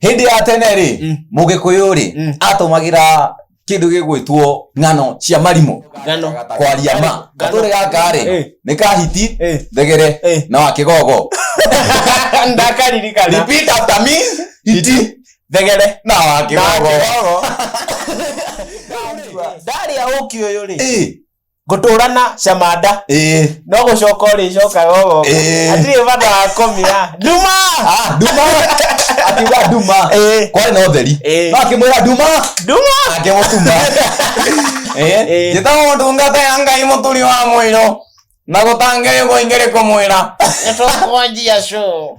hĩndĩ ya tene rĩ Mm. mũgĩkũyũ rĩ Mm. atũmagĩra kĩndũ gĩgwĩtwo ng'ano cia marimũ Ngano. kwaria ma Ngano. gatũrĩ gaka rĩ Eh. nĩ kahiti Eh. thegere Eh. na wa kĩgogo ndakaririkana repeat after me hiti thegere na wa kĩgogo ndarĩa ũki ũyũ rĩ Eh, ngũtũra na camanda ĩĩ no gũcoka ũrĩcokaga ũgogo Ĩĩ. atirĩ bata wa kũmĩa nduma Ah, nduma akiuga nduma Ĩĩ. kwarĩ na ũtheri Ĩĩ. no akĩmwĩra nduma nduma akĩmũtuma Ĩĩ. njĩtagwo ndungata ya ngai mũturi wa mũirũ na gũtangĩrĩgwo ingĩrĩ kũmwĩra nĩtũkwanjia show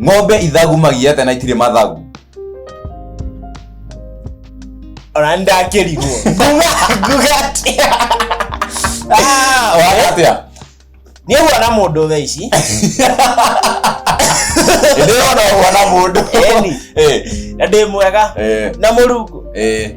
ng'ombe ithagumagia atĩa na itirĩ mathagu ona ndakĩrigwo nguga atĩa Ah, waga atĩa nĩ huona mũndũ thaa ici ndĩrona ũguo na mũndũ Eni. Eh, na ndĩ mwega eh, na mũrungu eh.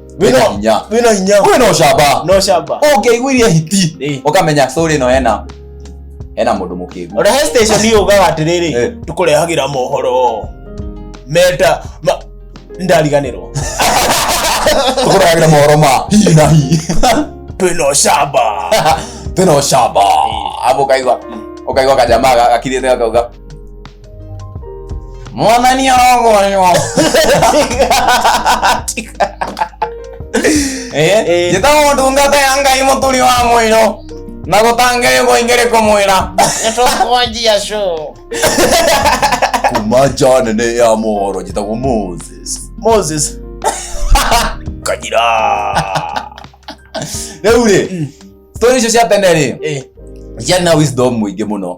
wĩna Wĩna- hinya wĩna hinya kwĩ no camba no camba ũngĩaiguirie hiti Eh. ũkamenya story ĩno ena ena mũndũ mũkĩgu ona he station yugaga Eh. atĩrĩrĩ tũkũrehagĩra mohoro meta ma- ndariganĩrwo tũkũragĩra mohoro ma hi na hi twĩno camba twĩna ũcamba abu ũkaigua ũkaigua kajama gakirĩte gakauga mwathani arogoyo Eh. njĩtagwo ndungata ya ngai mũturi wa mwĩro na gũtangĩrĩ gũingĩrĩ kũmwĩra nĩtũkwanjia show kuma nja nene ya mohoro njĩtagwo moses moses kanyira rĩu rĩ stori icio cia tene rĩ Eh. ciarĩ na wisdom mũingĩ mũno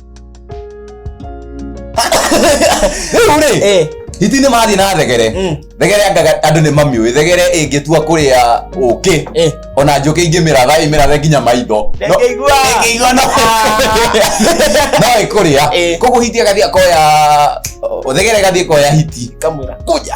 rĩu rĩ Eh, hiti nĩ mathiĩ na thegere Mm. thegere angaga andũ nĩ mamiũĩ thegere ĩngĩtua kũrĩa ũkĩ eh. ona njũkĩ ingĩmĩratha ĩmĩrathe nginya maitho No- Ndĩngĩigua. ĩngĩigua no no ĩkũrĩa Eh. koguo hiti agathiĩ akoya thegere ĩgathiĩ ĩkoya hiti Kamũra. kuja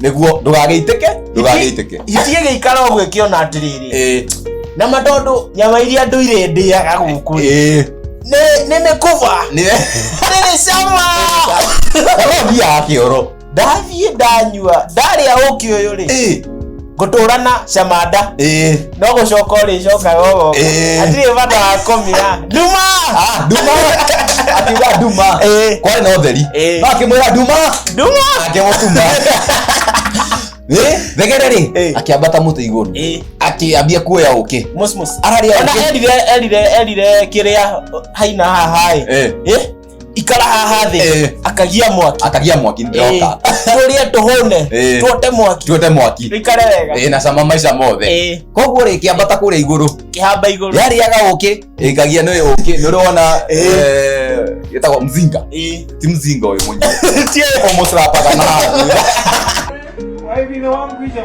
nĩguo ndũgagĩitĩke ndũgagĩitĩke itie gĩikara ũguo ĩkĩona atĩrĩrĩ Eh, na ma tondũ nyama iria ndũire ndĩaga gũkũ eh, nĩ nĩ mĩkuba nĩ- nĩ cama Ũyũ thiaga kĩoro ndathiĩ ndanyua ndarĩa ũkĩ ũyũ rĩ Eh, ngũtũra na camanda eh. no gũcoka ũrĩcokaga ũgoka Eh. atirĩ bata wa kũmira nduma Ah, nduma akiuga nduma Eh. kwarĩ na ũtheri Eh. no akĩmwĩra nduma nduma akĩmũtuma Eh, thegere rĩ Eh. akĩambata mũtĩ igũrũ Eh, akĩambia kuoya ũkĩ mus mus Ararĩa ona ũkĩ. erire erire erire kĩrĩa haina hahaĩ Eh. Eh, ikara haha thĩ Eh. akagia mwaki akagia mwaki Eh, nĩndĩroka tũrĩe tũhũne Eh. tuote mwaki tuote mwaki ikare wega Eh, na cama maica mothe Eh, koguo rĩ kĩambata kũrĩa igũrũ kĩhamba igũrũ yarĩaga ũkĩ ĩkagia nĩ ũkĩ nĩ ũrona gĩtagwo mzinga Eh, ti mzinga ũyũ mwenyewe tie ũmũcrapaga na Why we don't want to be a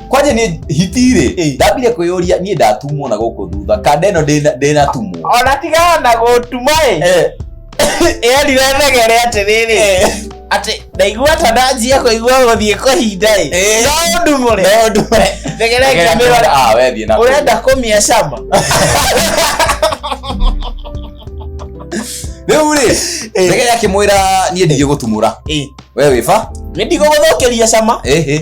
kwanja nä hitirä Eh. ndambire kwä yå ria niä ndatumwo na gå kå thutha kanda ä no ndä natumwo ona tigaga na gũtuma ĩ erire thegere atĩrĩrĩ atĩ ndaigua ta ndanjia kũigua gũthiĩ kũhinda ĩ Eh. no ndumũre thegere ngĩmĩrora wethiä na ũrenda kũmia cama rä u rä Eh. thegere akä mwä ra niä ndigä gå tumå ra Ĩ, we wä ba nĩ ndigũgũthũkĩria cama ä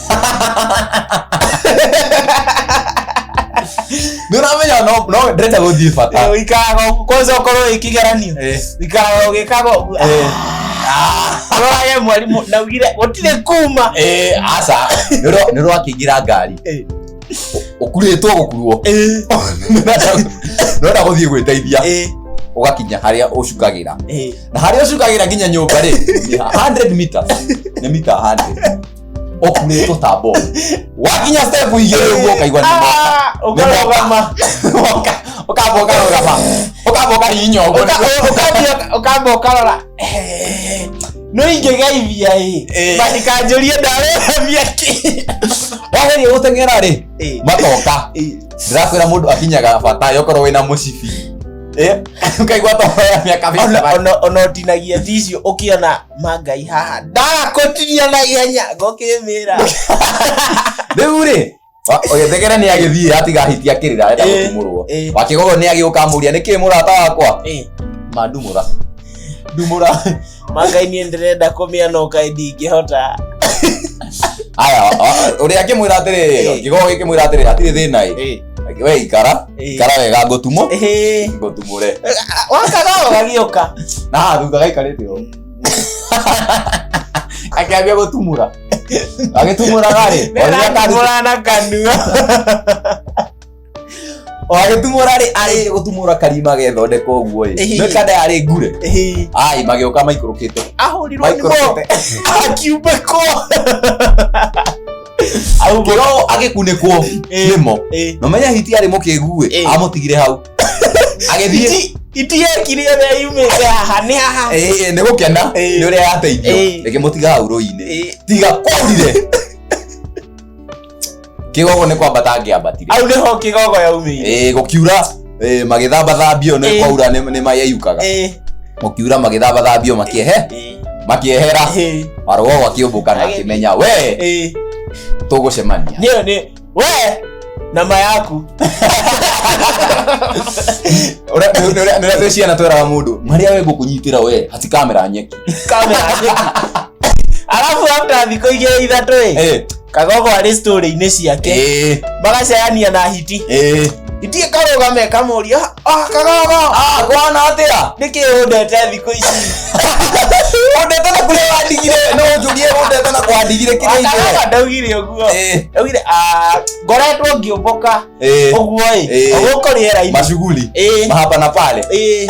nĩũramenya no no ndĩrenda gũthiĩ bata Eh, ũikaraga ũguo. kwanza ũkorwo wĩ kĩgeranio Eh. ũikaraga ũgĩkaga ũguo Eh. arorage mwarimũ naugire gũtirĩ kuma Eh, aca nĩũrakĩingĩra ngari Eh. ũkurĩtwo gũkuruo Eh, nĩũrenda gũthiĩ gwĩteithia eh, ũgakinya harĩa ũcukagĩra eh. na harĩa ũcukagĩra nginya nyũmba rĩ nĩ 100 meters nĩ mita 100 off nä tå tambo wakinya step igä rä å guo kaigua nä ũkarũgama ũkamba ũkarũgama ũkamba ũkahihinya å guo ũkamba ũkarora no ingĩgeithia ĩ Eh. matikanjũrie ndarũgamia kĩ wageria gå teng'era rä Eh. matoka Eh. ndĩrakwä ra må ndå akinyaga bata yokorwo wä na må cibi Eh, ũkaigua toya mä aka Ona- ona- ona ũtinagia ticio ũkĩona ma ngai haha ndakũtinia na ihenya ngũkĩmĩra rĩu rĩ ũgĩthegere nĩ agĩthiĩ atiga hiti akĩrĩra arenda Eh, gũtumũrwo eh. wakigogo nĩ agĩũka amũria nĩ kĩ mũrata wakwa Eh, mandumũra ndumũra ma ngai niĩ ndĩrenda kũmĩa no ngai ndingĩhota aya ũrĩa akĩmwĩra atĩrĩ Eh. kigogo gĩkĩmwĩra atĩrĩ hatirĩ thĩna ĩ Eh, we ikara Eh. ikara wega ngũtumũ Ĩhĩ. ngũtumũre wakaga ũgagĩũka na haha thutha gaikarĩte ũũ akĩambia gũtumũra agĩtumũraga rĩ orĩrĩa kari- Ndĩratumũra na kanua o agĩtumũra rĩ arĩ gũtumũra karima gethondeka ũguo ĩ Ĩhĩ. nĩ kada yarĩ ngure Ĩhĩ. ai magĩũka maikũrũkĩte ahũrirwo nĩ mo Microsoft. akiumbĩkwo Au bo- kirogo agikunĩkwo Eh, nĩmo eh. na menya hiti arĩ mũkĩgu Eh. ĩ amũtigire hau agĩthiĩ Iti- iti yekire ĩrĩa yumĩte haha nĩ haha Eh, nĩ gũkena Eh. nĩ ũrĩa yateithio Eh. ĩkĩmũtiga hau rũinĩ Eh, tiga kwarire kĩgogo nĩ kwambata angĩambatire au nĩho kĩgogo yaumĩire ĩ gũkiura Eh, magĩthamba thambio nĩ Eh. kwaura nĩ nĩ mayeyukaga Eh, mũkiura magĩthamba thambio makĩehe eh, makĩehera eh, marwo akĩũmbũka na akĩmenya we eh. tũgũcemania Nĩyo nĩ we nama yaku Ũrĩa- nĩ- nĩ- nĩ- nĩ ciana tweraga mũndũ marĩa we ngũkũnyitĩra we hati kamera nyeki kamera alafu after thikå igä rä ithatå ä Eh, kagogo arĩ story-inĩ ciake Eh, magacayania na hiti eh. hiti karũgame kamũria "Ah, kagogo Ah, kwana atia? nĩkĩ ũndete thikũ ici Ũndete na kũrĩa wandigire, no ũnjũrie ũndete na kwandigire kĩrĩa ingĩ. akagogo ndaugire ũguo Eh, ndaugire "Ah, ngoretwo ngĩũmbũka eh. ũguo ĩ Eh. gũkũ rĩera-inĩ Mashughuli. Ĩ, mahapa na pale ĩ.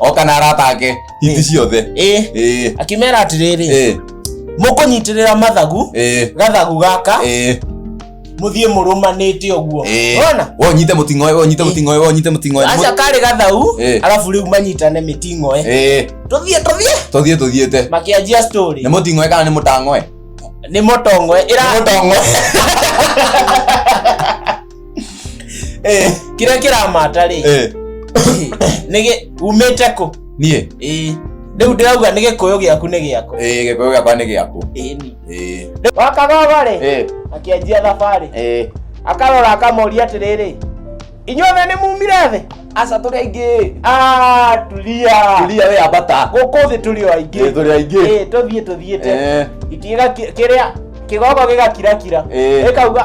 oka na arata ake hithi ciothe ĩ ĩĩ akĩmera atĩrĩrĩ ĩĩ mũkũnyitĩrĩra mathagu ĩĩ gathagu gaka ĩĩ mũthiĩ mũrũmanĩte ũguo ĩĩ wona we ũnyite mũting'o ũyũ, we ũnyite Ĩĩ. mũting'o ũyũ, we ũnyite mũting'o ũyũ. aca karĩ gathagu Ĩĩ. arabu rĩu manyitane mĩting'oe ĩĩ tũthiĩ tũthiĩ tũthiĩ tũthiĩte makĩanjia story nĩ mũting'oe kana nĩ mũtang'oe nĩ mũtongoe ĩra Nĩ mũtong'oe Eh, kĩrĩa kĩramata rĩ eh, nĩ gĩ- umĩte kũ niĩ Ĩĩ. rĩu ndĩrauga nĩ gĩkũyũ gĩaku nĩ gĩakwa Eh, gĩkũyũ gĩakwa nĩ gĩaku Ĩni. Eh, wakagogo rĩ eh, akĩanjia thabarĩ eh. akarora akamoria atĩrĩrĩ inyuothe nĩ mumire thĩ aca tũrĩ aingĩ Ah, tulia tulia we ambata gũkũ thĩ tũrĩ o Eh, aingĩ tũrĩ aingĩ Ĩĩ, tũthiĩ tũthiĩte Eh, Gĩkĩra kĩ- kĩrĩa kĩgogo gĩgakirakira Eh. ĩkauga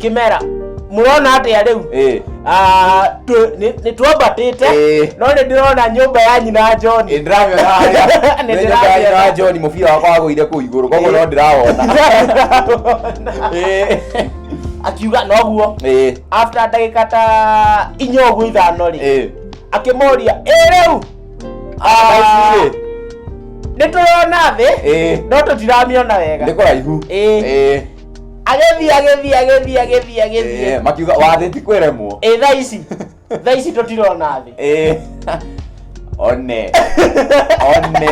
kimera murona atia riu Eh. Ah, tu- ni- nitwambatite Eh. no ni ndirona nyumba ya nyina john Nĩ ndĩramĩona harĩa. Nĩ Nĩ nyũmba ya nyina ndĩramĩona. John mũbira wakwa wagũire kũu igũrũ koguo no ndĩrawona Eh. akiuga noguo Eh. after ndagika ta inya ũguo ithano rĩ Eh. akĩmoria ĩ rĩu Athaici-rĩ. nĩ tũrona thĩ Eh. no tũtiramĩona wega nĩ kũraihu Ĩ. Eh. agĩthiĩ agĩthiĩ agĩthiĩ agĩthiĩ agĩthiĩ Eh, makiuga wathĩ ti kwĩremwo ĩ thaa ici thaa ici tũtirona thĩ Eh, one one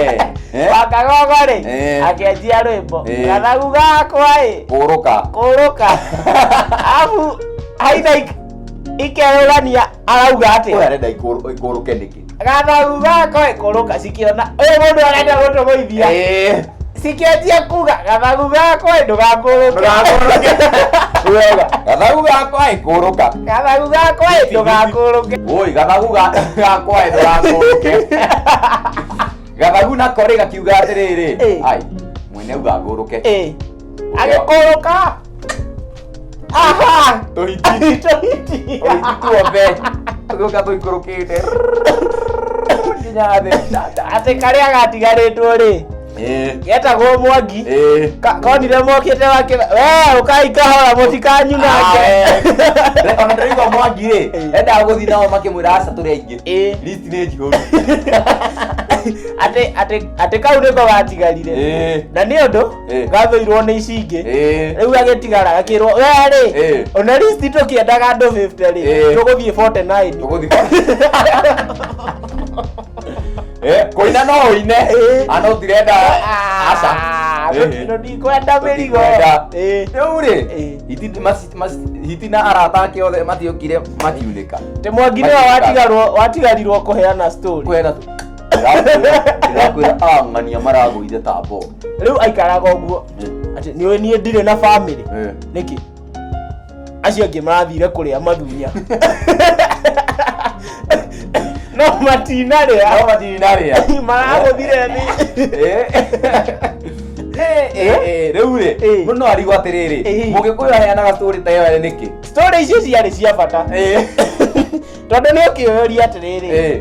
Eh, wakagogo rĩ Eh. akĩanjia rwĩmbo Eh. gathagu gakwa ĩ kũrũka kũrũka abu haina ikerũrania arauga atĩ ũyũ arenda ikũrũ- ikũrũke nĩkĩ gathagu gako ĩkũrũka cikiona ũyũ mũndũ arenda gũtũgũithia Eh, cikianjia kuga gathagu gako ĩ ndũgakũrũke ndũgakũrũke. Wega, gathagu gakwa ĩkũrũka gathagu gako ĩ ndũgakũrũke woi gathagu ga- gakwa ĩ ndũgakũrũke gathagu nako rĩ gakiuga atĩrĩrĩ Eh. ai mwene ugangũrũke Ĩ, agĩkũrũka tũhiti tũhiti tuo be tũgĩũka tũikũrũkĩte nginya thĩ atĩ karĩa gatigarĩtwo rĩ getagwo mwangi konire mokĩte wake we ũkai kahora mũtikanyunange ona ndĩraigua mwangi rĩ endaga gũthiĩ nao makĩmwĩra aca tũrĩ aingĩ list nĩ njihũru atĩ kau nĩko gatigarire na nĩ ũndũ Eh. gathũirwo nĩ ici ingĩ Eh. rĩu agĩtigara gakĩrwo we rĩ Eh. ona list tũkĩendaga andũ 50 rĩ Eh. tũgũthiĩ 49 Tũgũthiĩ. Eh, kũina no ũine Eh. ana ũtirenda aca Ah, Eh, eh. no ndikwenda mĩrigo Ndikwenda. Eh. rĩu rĩ Eh. hiti- mas- mas- hiti na arata ake othe matiũkire makiunĩka tä mwangi nä Makiunĩka. watigarirwo kũheana story kwena ndĩrakwĩra ang'ania maragũire ta mbogo rĩu aikaraga ũguo atĩ nĩũĩ niĩ ndirĩ na bamĩrĩ Eh. nĩkĩ acio angĩ marathire kũrĩa mathunya no matinarĩa Aho matinarĩa maragũthire nĩ Eh. Eh, eh, eh, rĩu rĩ Eh. mũndũ no arigwo atĩrĩrĩ Eh. mũgĩkũyũ aheanaga tũrĩ ta ĩyo ĩrĩ nĩkĩ story icio ciarĩ cia bata Eh. tondå nä å kä oyoria atä rä rä Eh.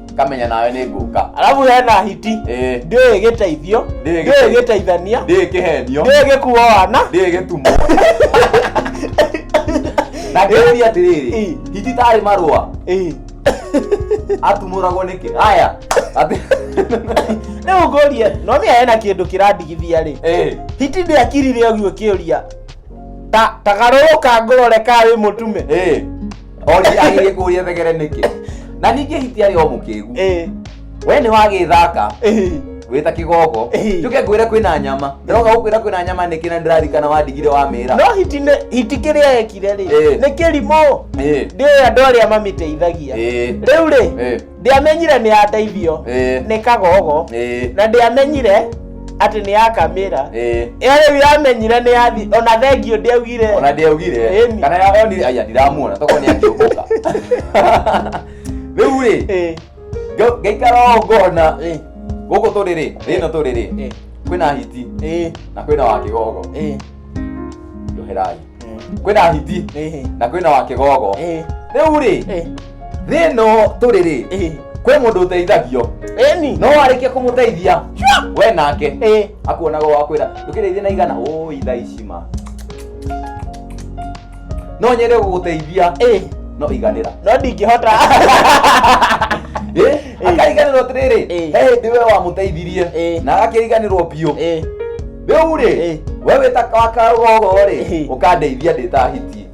kamenya nawe nĩ ngũka arabu hena hiti Ĩĩ. ndĩũĩ gĩteithio Ndĩũĩ ndĩũĩ gĩteithio. gĩteithania ndĩĩ kĩhenio ndĩũĩ gĩkuo wana ndĩĩ gĩtumo na ngĩũria atĩrĩrĩ Ĩĩ. hiti tarĩ marũa Ĩĩ. atumũragwo nĩkĩ aya atĩ rĩu ngũrie no mĩa hena kĩndũ kĩrandigithia rĩ Ĩĩ. hiti ndĩakirire ũguo kĩũria ta tagarũrũka ngũrore kaa wĩ mũtume Ĩĩ. Oji agĩrĩ kũria thegere nĩkĩ. Na ningĩ hiti arĩ o mũkĩgu. Eh. We nĩ wagĩthaka. Eh. Wĩta kĩgogo. Eh. Njuke ngwĩre kwĩna nyama. Ndĩroka gũkwĩra kwĩna nyama nĩkĩ na ndĩrarikana wandigire wa mĩra. No hiti nĩ hiti kĩrĩa ekire rĩ. Eh. Nĩ kĩrimũ. Eh. Ndĩoĩ andũ arĩa mamĩteithagia. Eh. Rĩu rĩ. Eh. ndiamenyire nĩ ya ndeithio Eh. nĩ kagogo Eh. na ndiamenyire atĩ nĩ ya kamĩra Eh. ĩyo rĩu yamenyire nĩ ya thi ona thengio ndiaugire ona ndiaugire Ĩni. kana ya- onire aya ndiramuona toko nĩ akĩũmbũka rĩu rĩ Eh, nga- ngaikara o ngona eh, gũkũ tũrĩ rĩ rĩno tũrĩ rĩ eh, kwĩna hiti eh, na kwĩna wa kĩgogo eh. njoherai kwĩna hiti Ehe. na kwĩna wa kĩgogo Eh, rĩu rĩ eh, thĩ ĩno tũrĩ rĩ eh. kwĩ mũndũ ũteithagio Eni. no warĩkia kũmũteithia we nake Eh. akuonaga wakwĩra ndũkĩrĩithia na igana ũĩ tha ici ma no nyende gũgũteithia Eh. no iganĩra No ndingĩhota. Eh, akariganĩrwo atĩrĩrĩ Eh. he hĩndĩ we wamũteithirie Eh. na agakĩriganĩrwo biũ Eh. rĩu rĩ Eh. we wĩta wakagogo rĩ Eh. ũkandeithia ndĩtahitie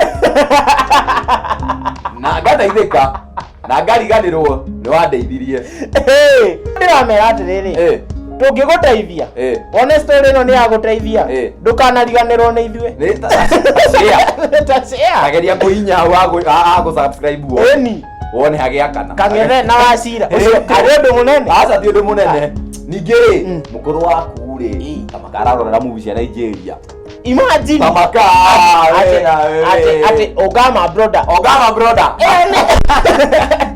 na ngateithĩka na ngariganĩrwo nĩ wandeithirie Hey, ndĩramera atĩrĩrĩ Eh, tũngĩgũteithia eh. one story ĩno nĩ ya gũteithia Eh. ndũkanariganĩrwo nĩ ithuĩ Nĩ ta- ta share. Ta share. ageria kũhinya wa gũ- a- a gũsubscribe guo Ĩni. wone hagĩakana kang'ethe na wacira ũcio arĩ ũndũ mũnene aca ti ũndũ mũnene ningĩ rĩ Mm. mũkũrũ waku rĩ Mm. tamakararorera muvi cia nigeria imagine tamaka atĩ atĩ atĩ ogama broda ogama broda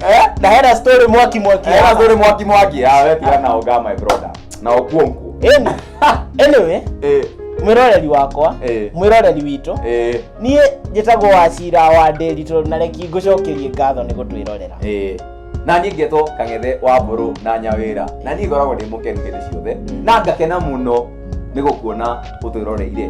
Eh? na hera story mwaki mwaki era zuri mwaki mwaki awe tigana ogama broda na okuonku eni Ah, anyway Eh, mwiroreri wakwa Eh. mwiroreri witũ eh, niĩ njĩtagwo wacira wa ndĩri tondũ na reki ngũcokerie ngatho nĩ gũtwĩrorera eh. na niĩ ngetwo kang'ethe wa mbũrũ na nyawĩra na niĩ ngoragwo ndĩ mũkenu hĩndĩ ciothe na ngakena mũno nĩ gũkuona ũtwĩroreire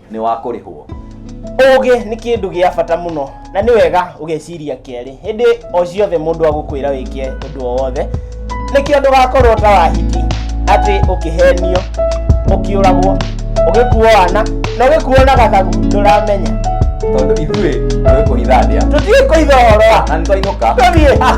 nĩ wa kũrĩhwo. Ũũgĩ nĩ kĩndũ gĩa bata mũno na nĩ wega ũgeciria kerĩ hĩndĩ o ciothe mũndũ agũkwĩra wĩke ũndũ o wothe nĩkĩo ndũgakorwo ta wahiti atĩ ũkĩhenio ũkĩũragwo ũgĩkuo wana na ũgĩkuo na gathagu ndũramenya Tondũ ithuĩ tũĩ kũhitha ndĩa tũtiĩ kũitha ũhoro wa na nĩ twainũka. tũthiĩ Ah.